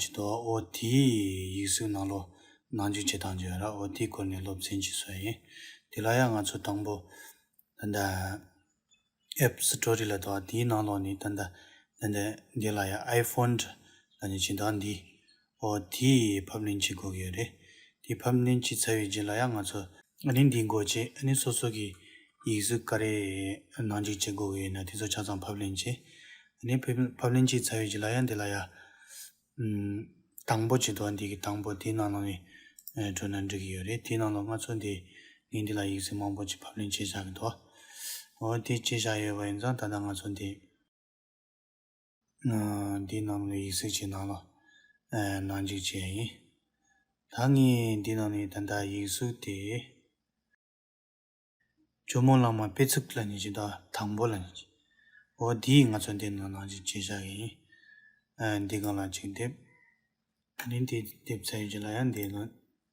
ཇི་ཏོ་ཨོ་ཏི་ཡིག་གཟུགས་ནང་ལོ་ནང་འཇུག་བྱེད་སྟངས་ཇི་ཡོད་ར་ཨོ་ཏི་སྐོར་ནས་སློབ་ཚན་གྱི་སྲོལ་ཡིན། དེ་ལ་ཡང་ང་ཚོ་དང་པོ་ད་ལྟ App Story ལ་དོ་དེའི་ནང་ལོགས་ནས་ད་ལྟ་ད་ལྟ་འདི་ལ་ཡང iPhone དྲ་ལ་ནས་བྱེད་སྟངས་འདིས་ཨོ་ཏི་ཕབ་ལེན་བྱེད་དགོས་ཀྱི་ཡོད་རེད། དེ་ཕབ་ལེན་བྱས་ཚར་བའི་རྗེས་ལ་ཡང་ང་ཚོ། ཨ་ནི་འདི་འགོ་བྱེད་ཨ་ནི་སོ་སོ་གི་ཡིག་གཟུགས་ཀ་རེ་ནང་འཇིག་བྱེད་འགོ་བའི་ཡིན་ན་དེ་ཚོ་ཆ་ཚང་ཕབ་ལེན་བྱེད་ཨ་ནི་ཕབ་ལེན་བྱས་ཚར་བའི་རྗེས་ལ་ཡ་འདི་ལ་ཡ་དང་པོ་བྱེད་དོ་ཨ་འདི་གི་དང་པོ་དེའི་ནང་ལོགས་ནས་བྲོས་ན་འགྲིག་གི་ཡོད་རེད་དེའི་ནང་ལོགས་ང་ཚོ་འདི་ངས་འདི་ལ་ཡིག་གཟུགས་མང་པོ་ཅིག་ཕབ་ལེན་བྱེད་བཞག་གི་འདུག་འོ་དེ་བྱེད་བཞག་ཡོད་པ་ཡིན་ཙང་ད་ལྟ་ང་ཚོ་འདི། འདི་རྣམས་ལས་ཡིག་གསལ་བྱེད་ནང་ལ། ནང་འཇིག་བྱེད་ཡིན། ད་ངས་འདི་རྣམས་ནས་ད་ལྟ་ཡིག་གཟུགས་དེ། ཇོ་མོ་གླང་མ་དཔེ་ཚུགས་ལ་ཉེ་ཆེ་དང་དང་པོ་ལ་ཉེ་ཆེ། འོ་དེས་ང་ཚོ་འདི་རྣམས་ནང་འཇིག་བྱེད་བཞག་གི་ཡིན། འདི་གང་ལ་གཅིག་བསྡེབས། འདི་འདེབས་ཚར་ཡོད་ཀྱི་ལ་ཡང་འདེབས་ལོན།